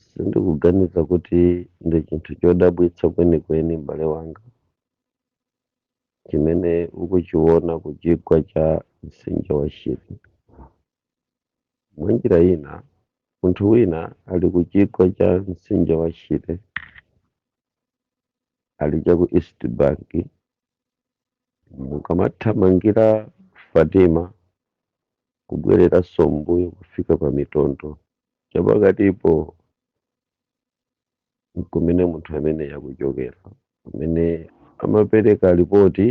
Sindikuganiza kuti ndi chinthu chodabwitsa kwenikweni, m'bale wanga, chimene ukuchiwona ku chigwa cha Mtsinje wa Shire. Mwanjira ina, munthu wina ali ku chigwa cha Mtsinje wa Shire, ali cha ku East Bank, mukamathamangira Fatima kubwereranso m'mbuyo kufika pa Mitondo chapakatipo kumene munthu amene yakuchokera amene amapereka lipoti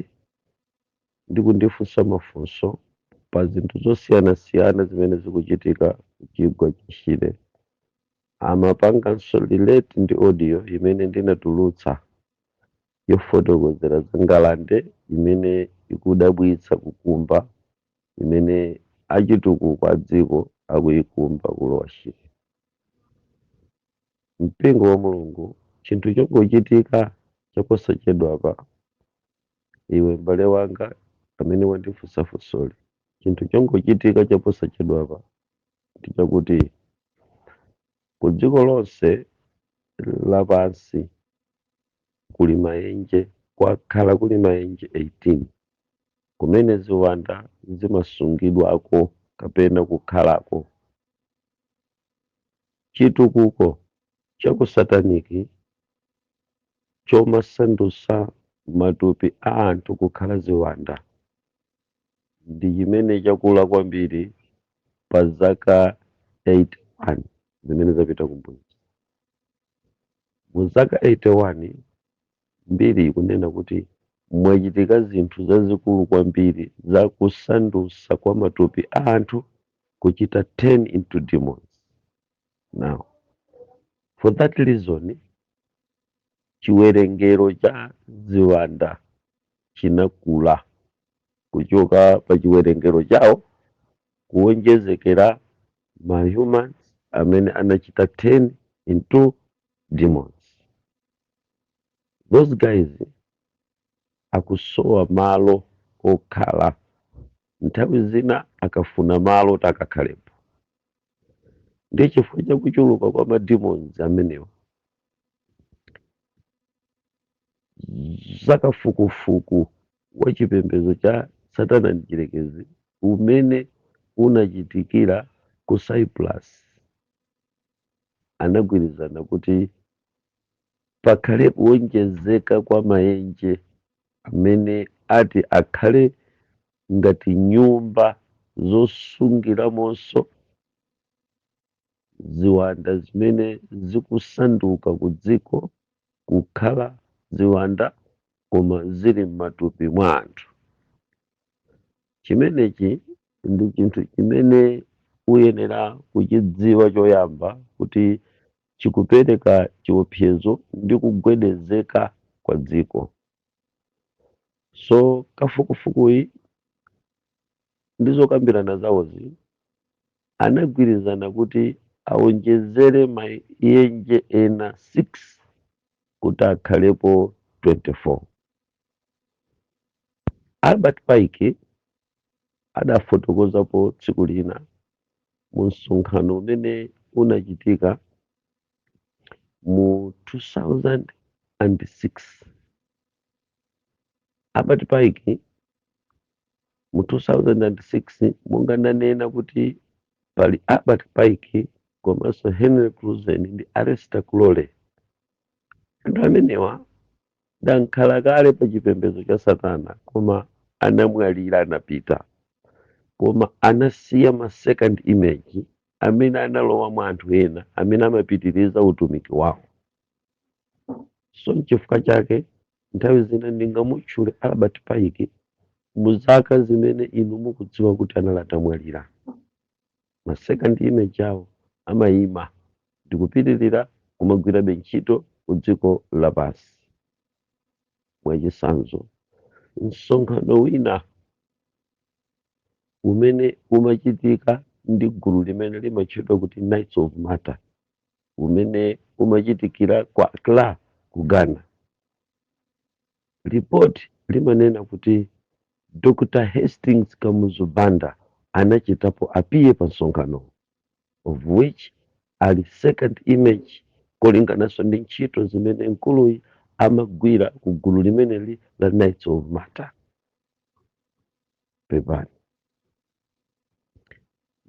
ndi kundifunsa mafunso pa zinthu zosiyanasiyana zimene zikuchitika kuchigwa cha Shire amapanganso relate ndi audio imene ndinatulutsa yofotokozera za ngalande imene ikudabwitsa kukumba imene achitukuko a dziko akuikumba ku Lower Shire. Mpingo wa Mulungu, chinthu chongochitika chaposachedwapa, iwe m'bale wanga amene wandifunsa funsoli, chinthu chongochitika chaposachedwapa ndi chakuti ku dziko lonse lapansi kuli maenje, kwakhala kuli maenje 18 kumene ziwanda zimasungidwako kapena kukhalako. Chitukuko cha ku satanic chomasandutsa matupi a anthu kukhala ziwanda ndi chimene chakula kwambiri pa zaka 81 zimene zapita kumbuyozi. Mu zaka 81, mbiri ikunena kuti mwachitika zinthu zazikulu kwambiri za kusandutsa kwa matupi a anthu kuchita turn into demons. Now, for that reason, chiwerengero cha ziwanda chinakula kuchoka pa chiwerengero chawo kuwonjezekera ma humans amene anachita turn into demons. Those guys akusowa malo okhala, nthawi zina akafuna malo oti akakhalepo. Ndiye chifukwa cha kuchuluka kwa ma demons amenewa, za kafukufuku wa chipembedzo cha Satana Mdyerekezi umene unachitikira ku Cyprus, anagwirizana kuti pakhale kuwonjezeka kwa maenje amene ati akhale ngati nyumba zosungiramonso ziwanda zimene zikusanduka kudziko kukhala ziwanda koma zili m'matupi mwa anthu. Chimenechi ndi chinthu chimene uyenera kuchidziwa choyamba kuti chikupereka chiopsezo ndi kugwedezeka kwa dziko. So kafukufukuyi ndi zokambirana zawozi anagwirizana kuti awonjezere maenje ena 6 kuti akhalepo 24. Albert Pike adafotokozapo tsiku lina mu msonkhano umene unachitika mu 2006. Albert Pike mu 2006 monga ndanena kuti pali Albert Pike komanso Henry Clausen ndi Aleister Crowley anthu amenewa ndi ankhalakale pa chipembedzo cha satana koma anamwalira anapita koma anasiya ma second image amene analowa mwa anthu ena amene amapitiriza utumiki wawo so n'chifukwa chake nthawi zina ndingamutchule albert pike mu zaka zimene inu mukudziwa kuti anali atamwalira ma second image awo amayima ndikupitirira kumagwirabe ntchito ku dziko lapansi mwachisanzo msonkhano wina umene umachitika ndi gulu limene limatchedwa kuti knights of malta umene umachitikira ku Accra ku Ghana. Lipoti limanena kuti Dr. Hastings Kamuzu Banda anachitapo appear pa msonkhanowo of which ali second image kulingananso ndi ntchito zimene mkuluyi amagwira ku gulu limeneli la Knights of Malta. Pepani.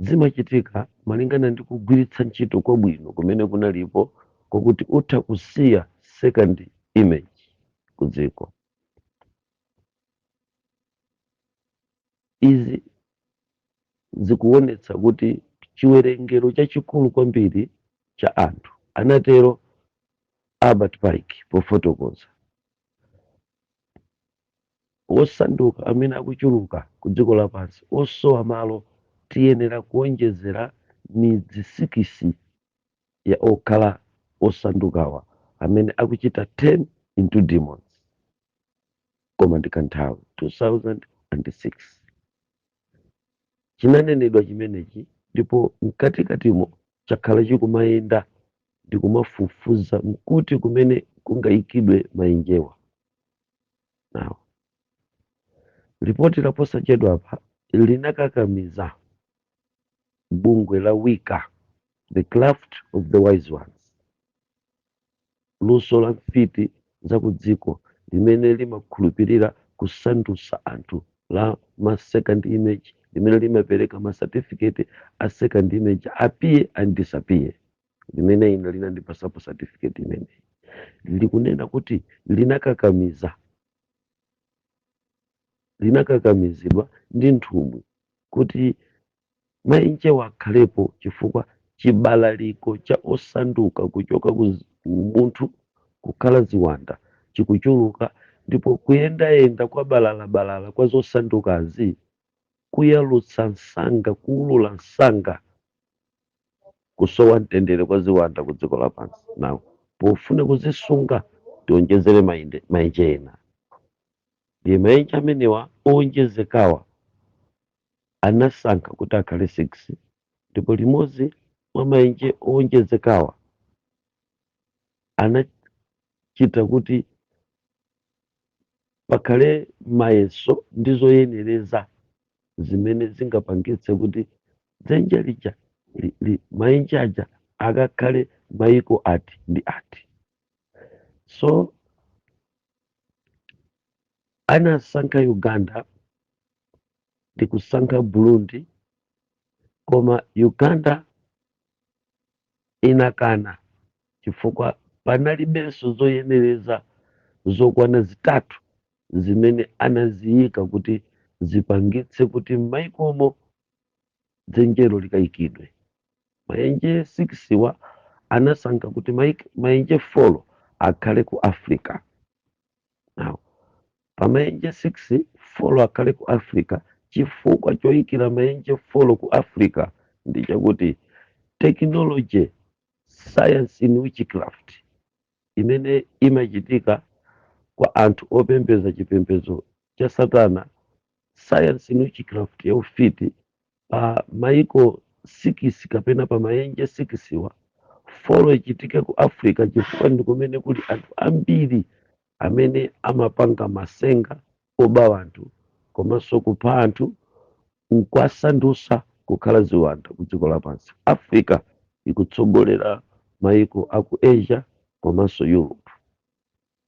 Zimachitika malingana ndi kugwiritsa ntchito kwabwino kumene kunalipo kwakuti utha kusiya second image ku dziko. Izi zikuwonetsa kuti chiwerengero chachikulu kwambiri cha anthu, anatero Albert Pike pofotokoza. osanduka amene akuchuluka ku dziko lapansi osowa malo, tiyenera kuonjezera midzi sikisi ya okhala osandukawa amene akuchita turn into demons. Koma ndi kanthawi. 2006 Chinanenedwa chimenechi ndipo mkatikatimo chakhala chikumayenda ndikumafufuza nkuti kumene kungaikidwe maenjewa. Now, lipoti laposachedwapa linakakamiza bungwe la Wicca, The Craft of the Wise Ones, luso la mfiti za kudziko limene limakhulupirira kusandutsa anthu la ma second image limene limapereka ma certificate a second image appear and disappear. limene ine linandipasapo certificate imeneyi likunena kuti linakakamiza linakakamizidwa ndi nthumwi kuti maenjewa akhalepo chifukwa chibalaliko cha osanduka kuchoka ku zi- umunthu kukhala ziwanda chikuchuluka ndipo kuyendayenda kwa balalabalala kwa zosandukazi kukuyalutsa msanga kukuulula msanga Kusowa mtendere kwa ziwanda ku dziko lapansi now pofuna kuzisunga tionjezere maenje, maenje ena. Ndiye maenje amenewa oonjezekawa anasankha kuti akhale 6 ndipo limodzi mwa maenje oonjezekawa anachita kuti pakhale mayeso ndi zoyenereza zimene zingapangitse kuti dzenje lija li, li, maenje aja akakhale maiko ati ndi ati so anasankha uganda ndi kusankha burundi koma uganda inakana chifukwa panalibenso zoyenereza zokwana zitatu zimene anaziyika kuti zipangitse kuti m'mayikomo dzenjelo likayikidwe. Mayenje 6 wa anasankha kuti mayenje 4 akhale ku Africa. Now, pamaenje 6 folo akhale ku africa chifukwa choikira maenje folo ku africa ndi chakuti technology science in witchcraft imene imachitika kwa anthu opembeza chipembedzo cha satana sayansi in witchcraft ya ufiti pa maiko sikisi kapena pa mayenje sikisiwa, folo ichitike ku africa chifukwa ndi kumene kuli anthu ambiri amene amapanga masenga oba anthu komanso kupha anthu nkwasandutsa kukhala ziwanda ku dziko lapansi africa ikutsogolera maiko aku asia komanso europe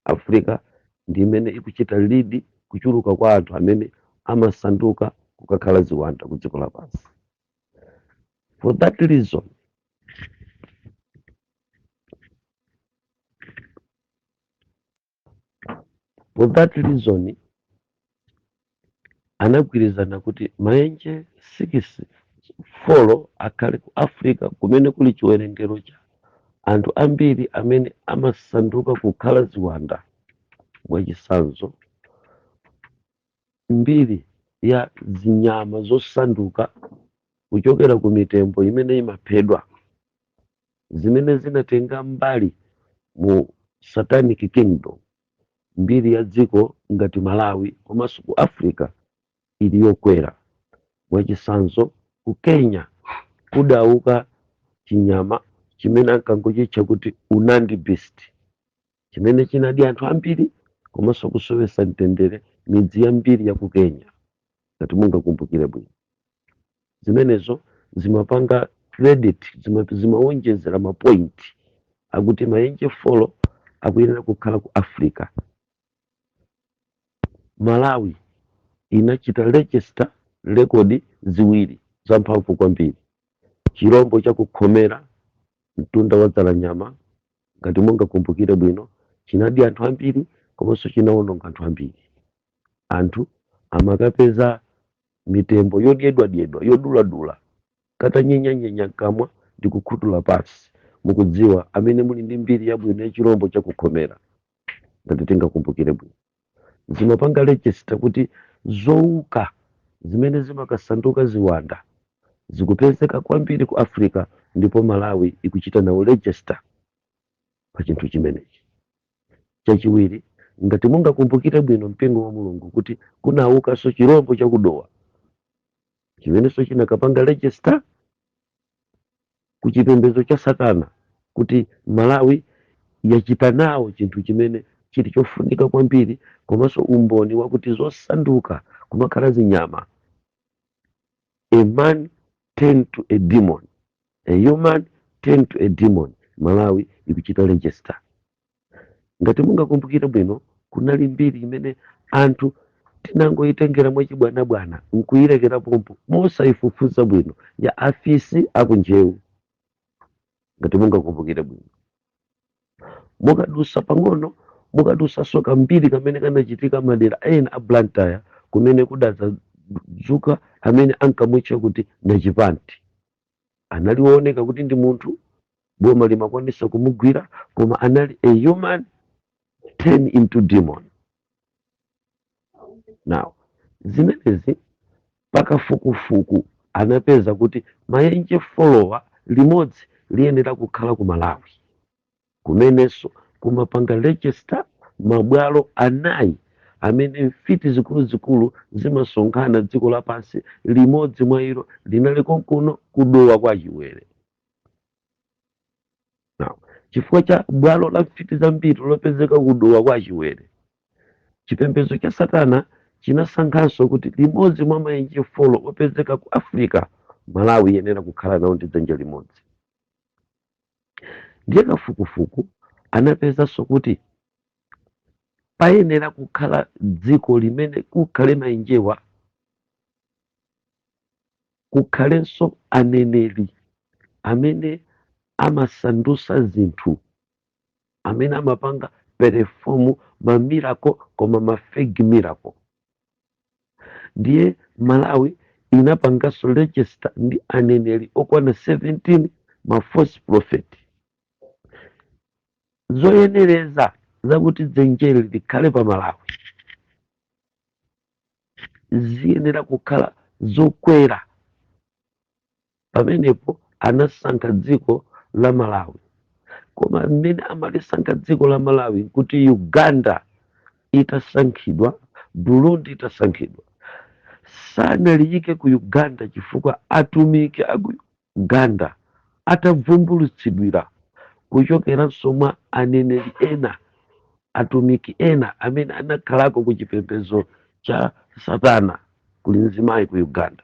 Africa ndi imene ikuchita lead kuchuluka kwa anthu amene amasanduka kukakhala ziwanda ku dziko lapansi. For that reason, for that reason anagwirizana kuti maenje sikisi, folo akhale ku Africa kumene kuli chiwerengero cha anthu ambiri amene amasanduka kukhala ziwanda. Mwachitsanzo, mbiri ya zinyama zosanduka kuchokera ku mitembo imene imaphedwa zimene zinatenga mbali mu Satanic Kingdom. mbiri ya dziko ngati Malawi komanso ku Africa ili yokwera. Mwachitsanzo, ku Kenya kudauka chinyama chimene ankangochitcha kuti Nandi beast chimene chinadya anthu ambiri komanso kusowetsa mtendere midzi yambiri ya ku Kenya, ngati mungakumbukire bwino. zimenezo zimapanga credit zimawonjezera mapoint akuti mayenje folo akuyenera kukhala ku africa malawi inachita register rekodi ziwiri zamphamvu kwambiri chirombo cha ku khomera mtunda wa dzalanyama ngati mungakumbukire bwino chinadya anthu ambiri komanso chinawononga anthu ambiri anthu amakapeza mitembo yodyedwadyedwa, yoduladula, katanyenyanyenya mkamwa ndi kukhutula pansi. Mukudziwa, amene muli ndi mbiri yabwino ya chirombo cha ku Khomera, ngati tingakumbukire bwino, zimapanga regista kuti zowuka zimene zimakasanduka ziwanda zikupezeka kwambiri ku Afrika, ndipo Malawi ikuchita nawo regista pa chinthu chimenechi. chachiwiri ngati mungakumbukire bwino mpingo wa mulungu kuti kunawukanso chirombo cha ku dowa chimenenso chinakapanga register ku chipembedzo cha satana kuti malawi yachita nawo chinthu chimene chili chofunika kwambiri komanso umboni wakuti zosanduka kumakhala zinyama a man turned to a demon A human turned to a demon, Malawi ikuchita register. Ngati mungakumbukire bwino, kunali mbiri imene anthu tinangoyitengera mwachibwanabwana nkuyilekera pompo mosayifufuza bwino ya afisi aku Njewa. Ngati mungakumbukire bwino, mukadusa pang'ono, mukadusanso kambiri kamene kanachitika madera ena a Blantyre kumene kudadzadzuka amene ankamutcha kuti Nachipanti. anali wooneka kuti ndi munthu boma limakwanisa kumugwira koma anali a human turn into demon now zimenezi pakafukufuku anapeza kuti maenje folowa limodzi liyenera kukhala ku malawi kumenenso kumapanga register mabwalo anayi amene mfiti zikuluzikulu zimasonkhana dziko lapansi limodzi mwa ilo linali konkuno ku Dowa kwa Chiwere Now, chifukwa cha bwalo la mfiti zambiri lopezeka ku Dowa kwa Chiwere chipembedzo cha satana chinasankhanso kuti limodzi mwa maenje folo opezeka ku africa Malawi iyenera kukhala nawo ndi dzenje limodzi Ndiye kafukufuku anapezanso kuti payenera kukhala dziko limene kukhale maenjewa kukhalenso aneneri amene amasandusa zinthu amene amapanga perform ma miracle koma ma fake miracle ndiye malawi inapanganso register ndi aneneri okwana 17 ma false prophet zoyenereza zakuti dzenjeli likhale pa malawi ziyenera kukhala zokwera pamenepo anasankha dziko la malawi koma mmene amalisankha dziko la malawi nkuti uganda itasankhidwa burundi itasankhidwa sanaliyike ku uganda chifukwa atumiki a ku uganda atavumbulutsidwira kuchokeranso mwa aneneri ena atumiki ena amene anakhalako ku chipembedzo cha satana kuli mzimayi ku uganda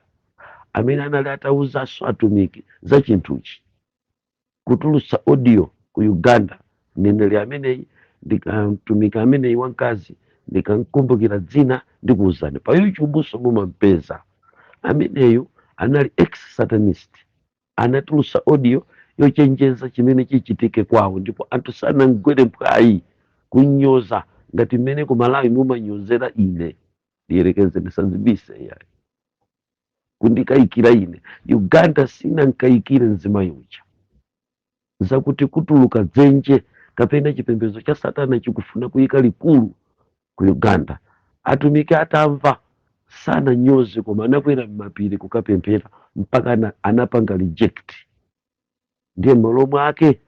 amene anali atawuzanso atumiki za chinthuchi kutulutsa audio ku uganda mneneri ameneyi ndika mtumiki ameneyi wamkazi ndikamkumbukira dzina ndikuwuzani pa YouTube-so mumampeza ameneyu anali ex satanist anatulutsa audio yochenjeza chimene chichitike kwawo ndipo anthu sanamgwere mphwayi kunyoza ngati mmene ku malawi mumanyozera ine ndiyerekeze ndisazibise ayi kundikayikira ine uganda sinankayikire mzimayi uja zakuti kutuluka dzenje kapena chipembedzo cha satana chikufuna kuyika likulu ku uganda atumiki atamva sananyoze koma anakwera m'mapiri kukapemphera mpaka anapanga reject ndiye m'malo mwake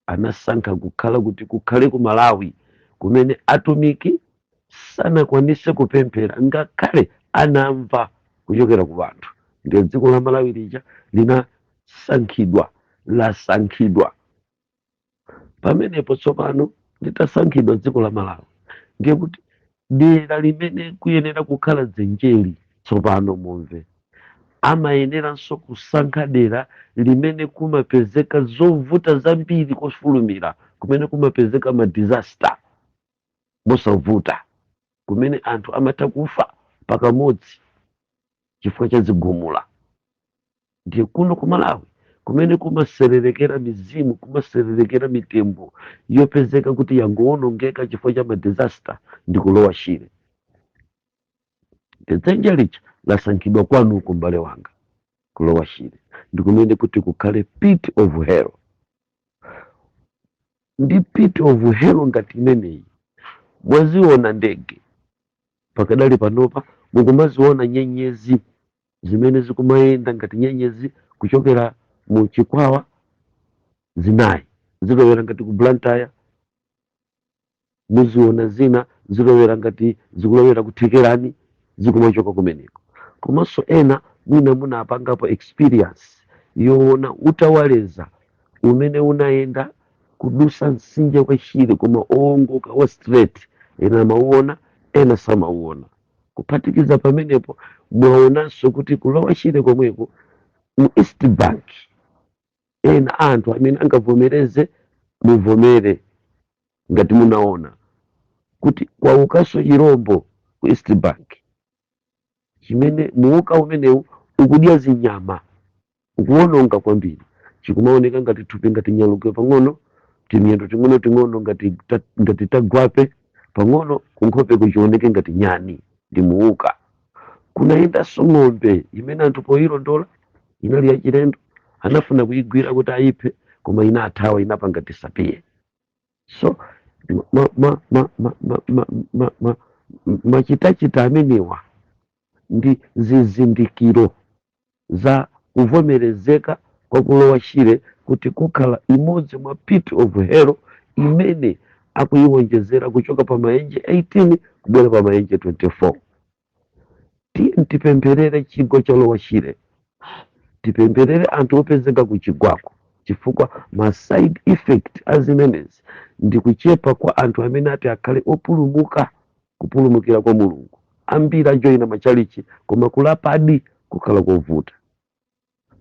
anasankha kukhala kuti kukhale ku Malawi kumene atumiki sanakwanise kupemphera ngakhale anamva kuchokera ku anthu ndiye dziko la Malawi lija linasankhidwa lasankhidwa pamenepo tsopano litasankhidwa dziko la Malawi ndiye kuti Dera limene kuyenera kukhala dzenjeli tsopano mumve. Amayeneranso kusankha dera limene kumapezeka zovuta zambiri kofulumira, kumene kumapezeka ma disaster mosavuta, kumene anthu amatha kufa pakamodzi. chifukwa cha zigumula ndiye kuno ku malawi kumene kumaserelekera mizimu kumaserelekera mitembo yopezeka kuti yangowonongeka chifukwa cha madisaster ndi ku lower shire dzenje lija lasankhidwa kwanuko mbale wanga ku lower shire ndi kumene kuti kukhale pit of hell ndi pit of hell ngati imeneyi mwaziona ndege pakadali panopa mukumaziona nyenyezi zimene zikumayenda ngati nyenyezi kuchokera mu chikwawa zinayi zilowera ngati ku blantyre muziona zina zilowera ngati zikulowera ku thekerani zikumachoka kumeneko komanso ena mwina munapangapo experience yoona utawaleza umene unayenda kudusa msinje wa shire koma owongoka wa straight ena amauona ena samauona kuphatikiza pamenepo mwaonanso kuti ku lower shire komweko mu east bank ena anthu amene angavomereze muvomere ngati munaona kuti kwaukanso chirombo ku east bank chimene muwuka umenewu ukudya zinyama ukuwononga kwambiri chikumaoneka ngati thupi ngati nyalugwe pang'ono timiyendo ting'onoting'ono ngati tagwape pang'ono kunkhopeko chioneke ngati nyani ndi muwuka kunayendanso ng'ombe imene anthu poyilondola inali yachilendo anafuna kuyigwira kuti ayiphe koma inathawa inapanga disappear so machitachita amenewa ndi zizindikiro za kuvomerezeka kwa ku lower shire kuti kukhala imodzi mwa pit of hell imene akuyiwonjezera kuchoka pa mayenje 18 kubwera pa mayenje 24 tiyeni tipempherere chigwa cha Lower Shire tipempherere anthu opezeka ku chigwako chifukwa ma side effect a zimenezi ndi kuchepa kwa anthu amene ati akhale opulumuka kupulumukira kwa mulungu ambiri ajoyina machalichi koma kulapadi kukhala kovuta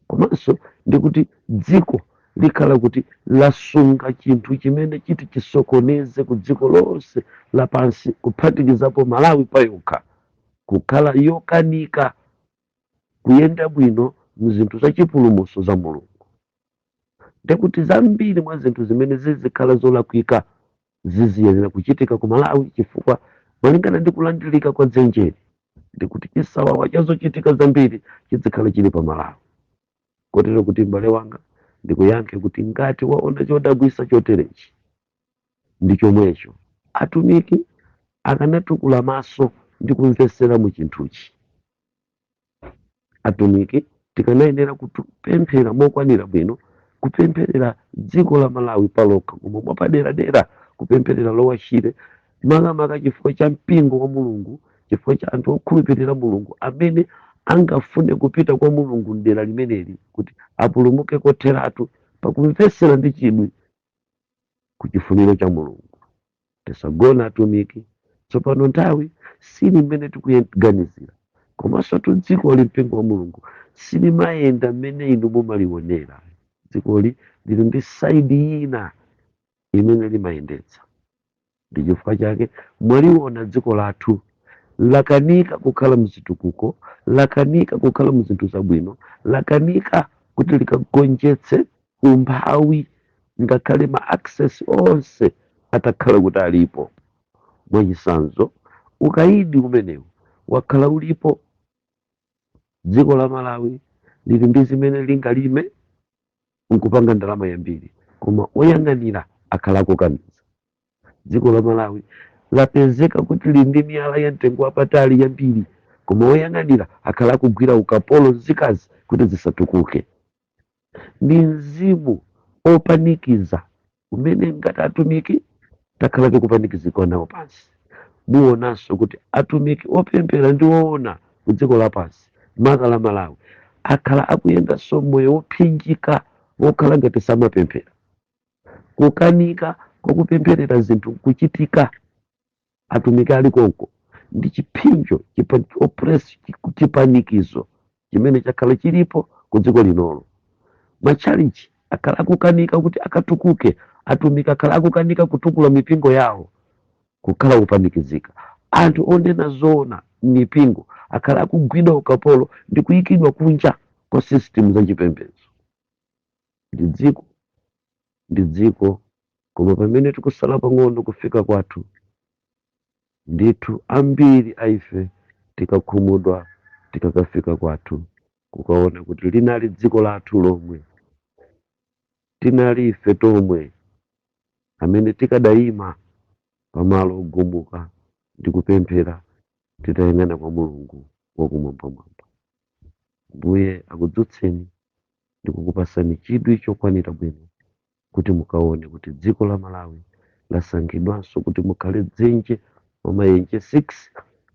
komanso ndi kuti dziko likhala kuti lasunga chinthu chimene chiti chisokoneze ku dziko lonse lapansi kuphatikizapo malawi payokha kukhala yokanika kuyenda bwino mzinthu za chipulumuso za mulungu ndekuti zambiri mwa zinthu zimene zizikhala zolakwika ziziyenera kuchitika ku Malawi chifukwa malingana ndi kulandirika kwa dzenjeli ndi kuti chisawawa cha zochitika zambiri chidzikhala chili pa Malawi. Kotero kuti m'bale wanga ndikuyankhe kuti ngati waona chodabwisa choterechi ndi chomwecho atumiki akanatukula maso ndi kumvesera mu chinthuchi. atumiki tikanayenera kupemphera mokwanira bwino kupempherera dziko la malawi palokha koma mwapaderadera kupempherera Lower Shire makamaka chifukwa cha mpingo wa mulungu chifukwa cha anthu okhulupirira mulungu amene angafune kupita kwa mulungu mdera limeneli kuti apulumuke kotheratu pakumvesera ndi chidwi ku chifuniro cha mulungu Tisagona atumiki, tsopano nthawi sili mmene tikuganizira, komansotu dzikoli, mpingo wa Mulungu silimayenda mmene inu mumaliwonera. Dzikoli lili ndi side ina imene limayendetsa. Ndi chifukwa chake mwaliona dziko lathu lakanika kukhala mzitukuko, lakanika kukhala mzinthu zabwino, lakanika kuti likagonjetse umphawi ngakhale ma access onse atakhala kuti alipo. Mwachitsanzo, ukaidi umenewu wakhala ulipo, dziko la Malawi lili ndi zimene lingalime nkupanga ndalama yambiri, koma oyang'anira akhala akukaniza. Dziko la Malawi lapezeka kuti lili ndi miyala ya mtengo wapatali yambiri, koma oyang'anira akhala akugwira ukapolo nzika zake kuti zisatukuke. ndi mzimu opanikiza umene ngati atumiki takhala tikupanikizika nawo pansi muonanso kuti atumiki opemphera ndi oona ku dziko lapansi maka la malawi akhala akuyendanso moyo wophinjika wokhala ngati samapemphera kukanika kwakupempherera zinthu kuchitika atumiki ali konko ndi chipsinjo chipa- oppress chiku- chipanikizo chimene chakhala chilipo ku dziko linolo matchalichi akhala akukanika kuti akatukuke atumiki akhala akukanika kutukula mipingo yawo kukhala kupanikizika anthu onena zoona m'mipingo akhala akugwidwa ukapolo ndi kuyikidwa kunja kwa system za chipembedzo ndi dziko ndi dziko, koma pamene tikusala pang'ono kufika kwathu, ndithu ambiri a ife tikakhumudwa tikakafika kwathu, kukaona kuti linali dziko lathu lomwe, tinali ife tomwe amene tikadaima pamalo ogumuka ndi kupemphera titayang'ana kwa Mulungu Wakumwambamwamba. Ambuye akudzutseni ndikukupasani chidwi chokwanira bwino kuti mukaone kuti dziko la Malawi lasankhidwanso kuti mukhale dzenje mwa maenje 6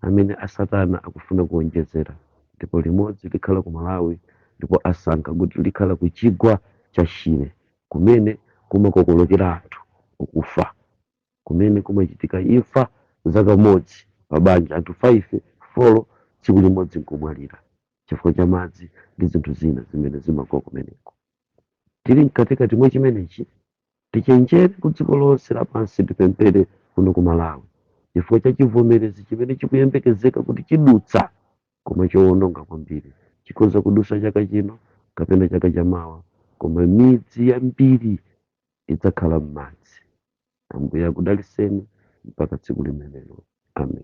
amene a satana akufuna kuonjezera ndipo limodzi likhala ku Malawi ndipo asankha kuti likhala ku chigwa cha Shire kumene kumakokolokera anthu kukufa kumene kumachitika imfa za kamodzi pa banja anthu 5, 4 tsiku limodzi nkumwalira. chifukwa cha madzi ndi zinthu zina zimene zimagwa kumeneko. Tili mkatikati mwa chimenechi, tichenjere ku dziko lonse lapansi tipemphere kuno ku Malawi chifukwa cha chivomerezi chimene chikuyembekezeka kuti chidutsa koma chowononga kwambiri. Chikhoza kudusa chaka chino kapena chaka cha mawa koma midzi yambiri idzakhala m'madzi. Ambuye akudaliseni mpaka tsiku limenelo. Amen.